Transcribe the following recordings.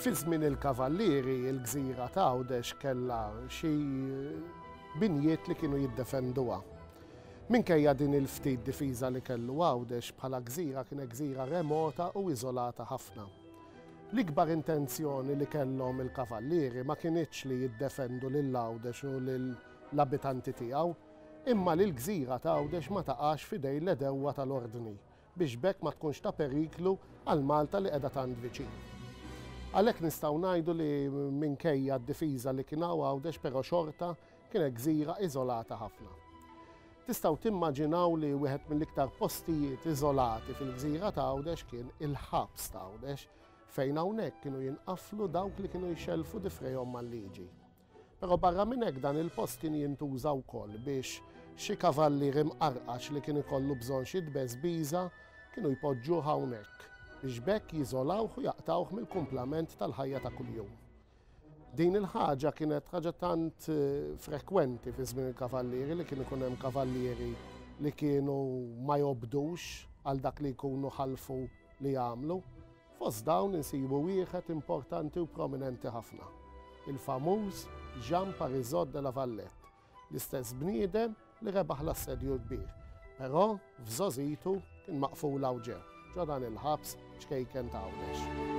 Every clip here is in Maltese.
Fi żmien il-Kavallieri, il-gżira ta' Għawdex kellha xi binjiet li kienu jiddefenduha. Minkejja din il-ftit difiża li kellu Għawdex bħala gżira kienet gżira remota u iżolata ħafna. L-ikbar intenzjoni li kellhom il-Kavallieri ma kinitx li jiddefendu lil Għawdex u lill-abitanti tiegħu, imma li l-gżira ta' Għawdex ma taqax f'idejn l-għedewwa tal-Ordni biex b'hekk ma tkunx ta' periklu għal Malta li qiegħda tant viċin. Għalhekk nistgħu ngħidu li minkejja d-difiża li kien hawn Għawdex però xorta kienet gżira iżolata ħafna. Tistgħu timmaġinaw li wieħed mill-iktar postijiet iżolati fil-gżira ta' Għawdex kien il-ħabs ta' Għawdex fejn hawnhekk kienu jinqaflu dawk li kienu jxellfu difrejhom mal-liġi. Però barra minn hekk dan il-post kien jintuża wkoll biex xi kavallier imqarqax li kien ikollu bżonn xi tbeżbiża kienu jpoġġuh hawnhekk biex b'hekk jiżolawh u jaqtgħuh mill-kumplament tal-ħajja ta' kuljum. Din il-ħaġa kienet ħaġa tant eh, frekwenti fi żmien il-kavallieri li kien ikun hemm kavallieri li kienu ma jobdux għal dak li jkunu ħalfu li jagħmlu. Fost dawn insibu wieħed importanti u prominenti ħafna, il-famuż Jean Parisot de la Valette, l-istess bniedem li rebaħ l-Assedju l-Kbir, però f'żogħżitu kien maqful hawn ġew, ġo dan il-ħabs ċkejken ta' Għawdex.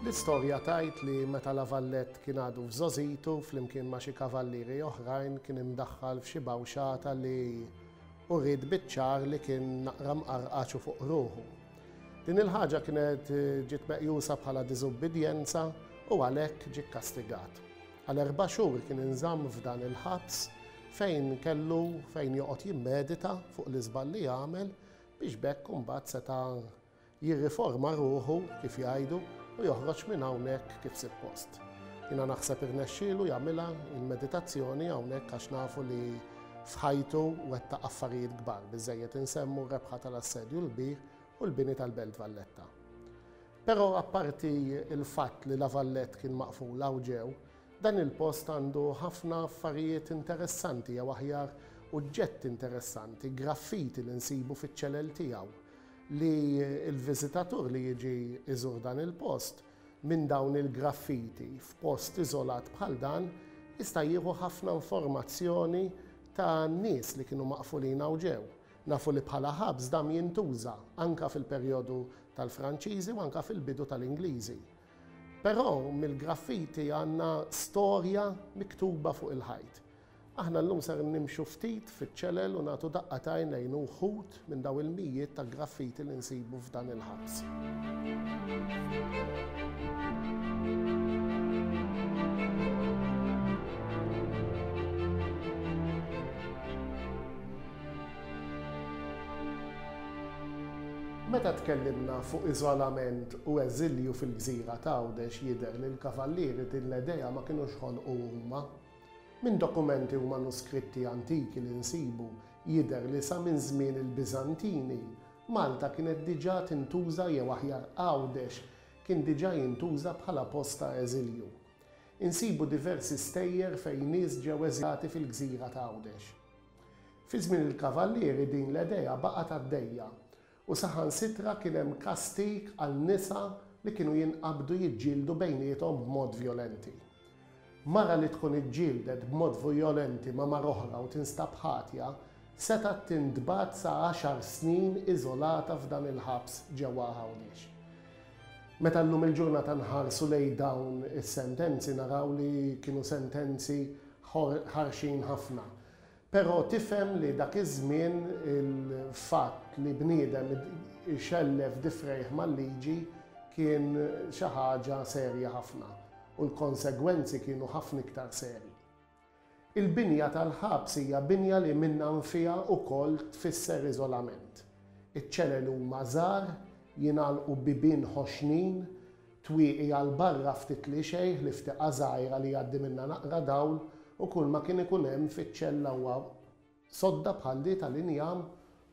L-istorja tgħid li meta La Valette kien għadu f'żogħżitu, flimkien ma' xi kavallieri oħrajn kien imdaħħal f'xi bawxata li uriet biċ-ċar li kien naqra mqarqaċ u fuq ruħu. Din il-ħaġa kienet ġiet meqjusa bħala diżubbidjenza u għalhekk ġie kkastigat. Għal erba' xhur kien inżamm f'dan il-ħabs fejn kellu fejn joqgħod jimmedita fuq l-iżball li għamel biex b'hekk imbagħad seta' Jirriforma ruħu, kif jgħidu, u joħroġ minn hawnhekk kif sippost. Jiena naħseb irnexxielu jagħmilha l-meditazzjoni hawnhekk għax nafu li f'ħajtu wettaq affarijiet kbar, biżżejjed insemmu r-rebħa tal-Assedju l-Kbir u l-bini tal-Belt Valletta. Però apparti l-fatt li La Vallette kien maqful hawn ġew, dan il-post għandu ħafna affarijiet interessanti jew aħjar uġġetti interessanti, graffiti li nsibu fiċ-ċelel tiegħu, li l-viżitatur li jiġi jżur dan il-post minn dawn il-graffiti f'post iżolat bħal dan jista' jieħu ħafna informazzjoni ta' nies li kienu maqfulin hawn ġew. Nafu li bħala ħabs dam jintuża anke fil-perjodu tal-Franċiżi u anke fil-bidu tal-Ingliżi. Però mill-graffiti għandna storja miktuba fuq il-ħajt. Aħna llum ser nimxu ftit fiċ-ċelel u nagħtu daqqa ta' għajnejn uħud minn dawn il-mijiet ta' graffiti li nsibu f'dan il-ħabs. Meta tkellimna fuq iżolament u eżilju fil-gżira t'Għawdex jidher li l-Kavallieri din l-edea ma kinux ħolqu huma. Minn dokumenti u manuskritti antiki li nsibu jidher li sa minn żmien il-Biżantini, Malta kienet diġà tintuża jew aħjar Għawdex kien diġà jintuża bħala post ta' eżilju. Insibu diversi stejjer fejn nies ġew eżilati fil-gżira ta' Għawdex. Fi żmien il-Kavallieri din l-edea baqgħet għaddejja U saħansitra kien hemm kastig għal nisa li kienu jinqabdu jiġġieldu bejniethom b'mod vjolenti. Mara li tkun iġġieldet b'mod vjolenti ma' mara oħra u tinstab ħatja, setgħet tintbagħat sa għaxar snin iżolata f'dan il-ħabs ġewwa Għawdex. Meta llum il-ġurnata nħarsu lejn dawn is-sentenzi naraw li kienu sentenzi ħarxin ħafna. Però tifhem li dak iż-żmien il-fatt li bniedem ixellef difrejh mal-liġi kien xi ħaġa serja ħafna u l-konsegwenzi kienu ħafna iktar serji. Il-binja tal-ħabs hija binja li minnha nfiha wkoll tfisser iżolament. Iċ-ċelel huma żgħar, jingħalqu bibien ħoxnin, Twieqi għal barra ftit li xejn ħlief tieqa żgħira li jgħaddi minnha naqra dawl u kulma kien ikun hemm fiċ-ċella huwa sodda bħal di tal-injam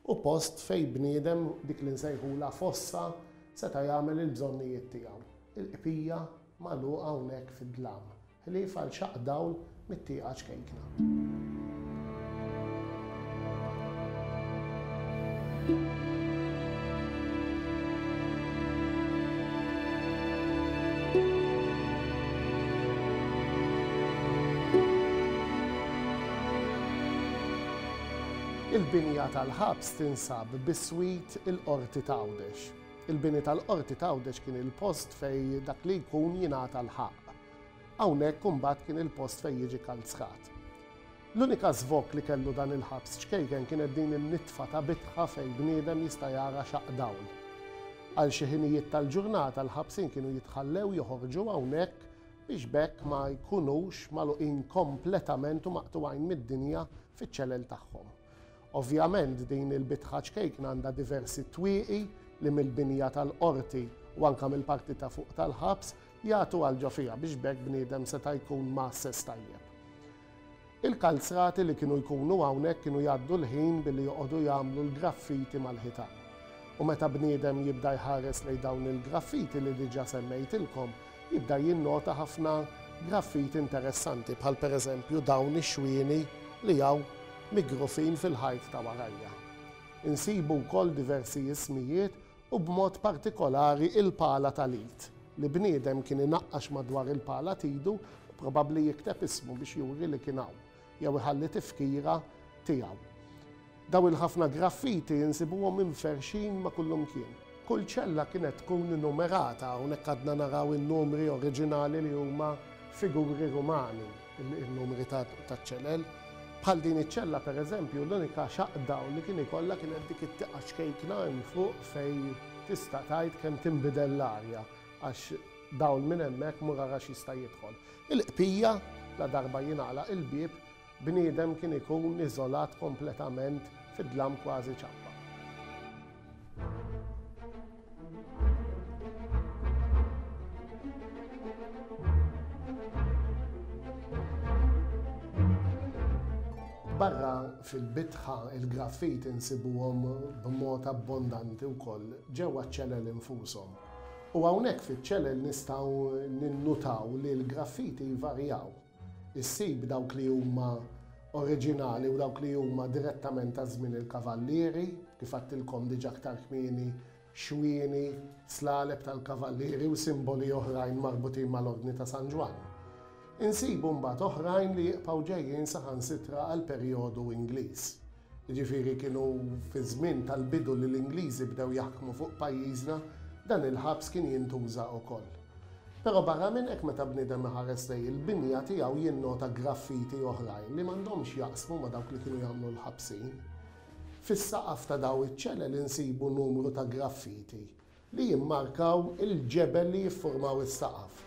u post fejn bniedem, dik li nsejħulha fossa, seta' jagħmel il-bżonnijiet tiegħu. Il-qbija magħluqa hawnhekk fid-dlam. Ħlief għal xaqq dawl mit-tieqa ċkejkna. Il-binja tal-ħabs tinsab biswit il-Qorti ta' Għawdex. Il-bini tal-Qorti ta' Għawdex kien il-post fejn dak li jkun jingħata l-ħaqq. Hawnhekk imbagħad kien il-post fejn jiġi kalzkat. L-unika żvokk li kellu dan il-ħabs ċkejken kienet din in-nitfa tabitħa fejn bniedem jista' jara xaqq dawl. Għal xi ħinijiet tal-ġurnata l-ħabsin kienu jitħallew joħorġu hawnhekk biex b'hekk ma jkunux magħluqin kompletament u maqtugħin mid-dinja fiċ-ċelel tagħhom. Ovvjament din il-bitħa ċkejkna għandha diversi twieqi li mill-binja tal-Qorti u anke mill-parti ta' fuq tal-ħabs jagħtu għal ġo fiha biex b'hekk bniedem seta' jkun mgħasses tajjeb. Il-kalzrati li kienu jkunu hawnhekk kienu jgħaddu l-ħin billi joqogħdu jagħmlu l-graffiti mal-ħitan. U meta bniedem jibda jħares lejn dawn il-graffiti li diġà semmejtilkom, Jibda jinnota ħafna graffiti interessanti bħal pereżempju dawn ix-xwieni li hawn migrufin fil-ħajt ta' warajja. Insibu wkoll diversi ismijiet u b'mod partikolari il-pala tal-id li bniedem kien inaqqax madwar il-pala t'idu probabbli jikteb ismu biex juri li kien hawn. jew iħalli tifkira tiegħu. Dawn il-ħafna graffiti insibuhom imferrxin ma' kullimkien. Kull ċella kienet tkun innumerata, hawnhekk għadna naraw in-numri oriġinali li huma figuri Rumani, in-numri taċ-ċelel. Bħal din iċ-ċella pereżempju, l-unika xaqdawl li kien ikollha kienet dik it-tieqa ċkejkna hemm fuq fejn tista' tgħid kemm tinbidel l-arja għax Dawl minn hemmhekk mur ara x'jista' jidħol. Il-qbija, ladarba jingħalaq il-bieb, bniedem kien ikun iżolat kompletament fid-dlam kważi ċappa. Barra fil-bitħa, il-graffiti nsibuhom b'mod abbondanti wkoll ġewwa ċ-ċelel infushom. U hawnhekk fiċ-ċelel nistgħu ninnutaw li l-graffiti jvarjaw. Issib dawk li huma oriġinali u dawk li huma direttament ta' żmien il-kavallieri, kif għedtilkom diġà aktar kmieni, xwieni, slaleb tal-kavallieri u simboli oħrajn marbutin mal-Ordni ta' San Ġwann. Insibu mbagħad oħrajn li jibqgħu ġejjin saħansitra għall-perjodu Ingliż. Jiġifieri kienu fiż-żmien tal-bidu li l-Ingliżi bdew jaħkmu fuq pajjiżna, dan il-ħabs kien jintuża ukoll. Però barra minn hekk meta bniedem iħares lejn il-binja tiegħu jinnota graffiti oħrajn li m'għandhomx jaqsmu ma' dawk li kienu jagħmlu l-ħabsin. Fis-saqaf ta' daw iċ-ċelel insibu numru ta' graffiti. li jimmarkaw il-ġebel li jiffurmaw is-saqaf,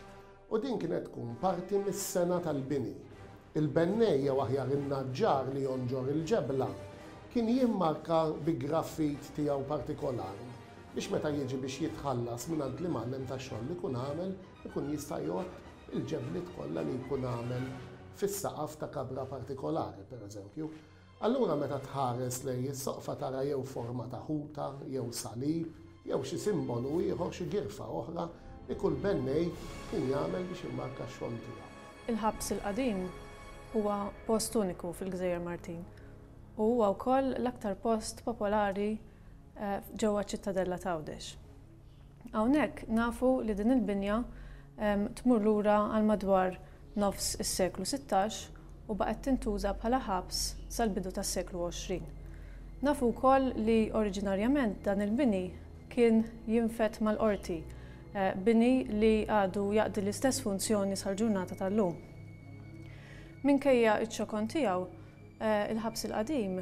u din kienet tkun parti mis-sengħa tal-bini. Il-bennej, jew aħjar in-naġġar li jonġor il-ġebla, kien jimmarka bi graffit tiegħu partikolari biex meta jiġi biex jitħallas mingħand l-imgħallem tax-xogħol li jkun għamel, ikun jista' jgħodd il-ġebliet kollha li jkun għamel fis-saqaf ta' kabra partikolari, pereżempju. Allura meta tħares lejn is-soqfa tara jew forma ta' ħuta, jew salib, jew xi simbolu ieħor, xi girfa oħra li kull bennej kien jagħmel biex immarka x-xogħol tiegħu. Il-Ħabs il-Qadim huwa post uniku fil-Gżejjer Martin u huwa wkoll l-aktar post popolari ġewwa ċ-Ċittadella t'Għawdex. Hawnhekk nafu li din il-binja tmur lura għal madwar nofs is-seklu sittax u baqgħet tintuża bħala ħabs sal-bidu tas-seklu għoxrin. Nafu wkoll li oriġinarjament dan il-bini kien jinfed mal-qorti, bini li għadu jaqdi l-istess funzjoni sal-ġurnata tal-lum. Minkejja ċ-ċokon tiegħu, il-ħabs il-qadim,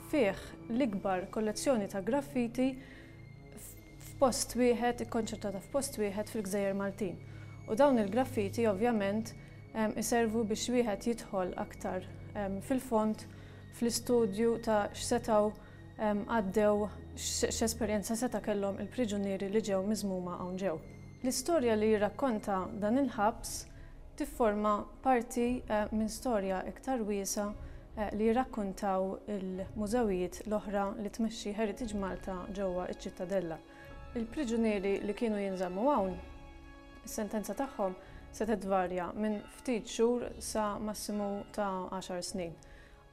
fih l-ikbar kollezzjoni ta' graffiti f'post wieħed, ikkonċentrata f'post wieħed fil-Gżejjer Maltin. U dawn il-graffiti ovvjament iservu biex wieħed jidħol aktar fil-fond fl-istudju ta' x'setgħu għaddew, x'esperjenza seta' kellhom il-priġunieri li ġew miżmuma hawn ġew. L-istorja li jirrakkonta dan il-ħabs tifforma Parti minn storja iktar wiesgħa li jirrakkuntaw il-mużewijiet l-oħra li tmexxi Heritage Malta ġewwa ċ-Ċittadella. Il-priġunieri li kienu jinżammu hawn, is-sentenza tagħhom setgħet tvarja minn ftit xhur sa massimu ta' għaxar snin.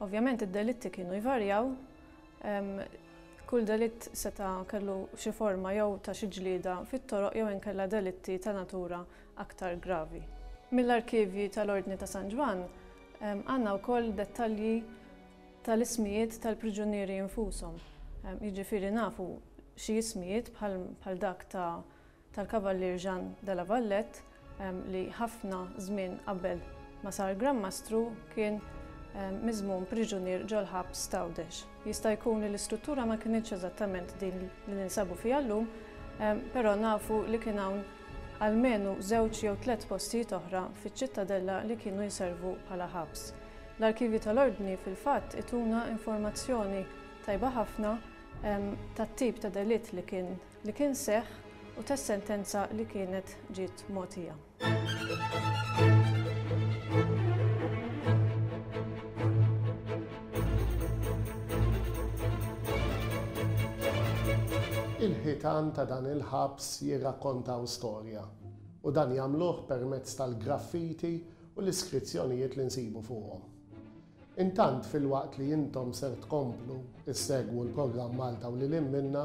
Ovvjament id-delitti kienu jvarjaw, kull delitt seta' kellu xi forma jew ta' xi ġlieda fit-toroq jew inkella delitti ta' natura aktar gravi. Mill-arkivji tal-Ordni ta' San Ġwann għandna wkoll dettalji tal-ismijiet tal-priġunieri infushom, jiġifieri nafu xi ismijiet bħal dak tal-Kavallier Jean de la Valette li ħafna żmien qabel ma sar Gran Mastru kien miżmum priġunier ġol-ħabs t'Għawdex. Jista' jkun li l-istruttura ma kinitx eżattament din li ninsabu fiha llum, però nafu li kien hawn almenu żewġ jew tliet postijiet oħra fiċ-Ċittadella li kienu jservu bħala ħabs. L-arkivji tal-Ordni fil-fatt ituna informazzjoni tajba ħafna tat-tip ta' delitt li kien li kien seħħ u tas-sentenza li kienet ġiet mogħtija. Il-ħitan ta' dan il-ħabs jirrakkontaw storja, u dan jagħmluh permezz tal-graffiti u l-iskrizzjonijiet li nsibu fuqhom. Intant filwaqt li intom ser tkomplu issegwu l-programm Malta u Lil Hinn Minnha,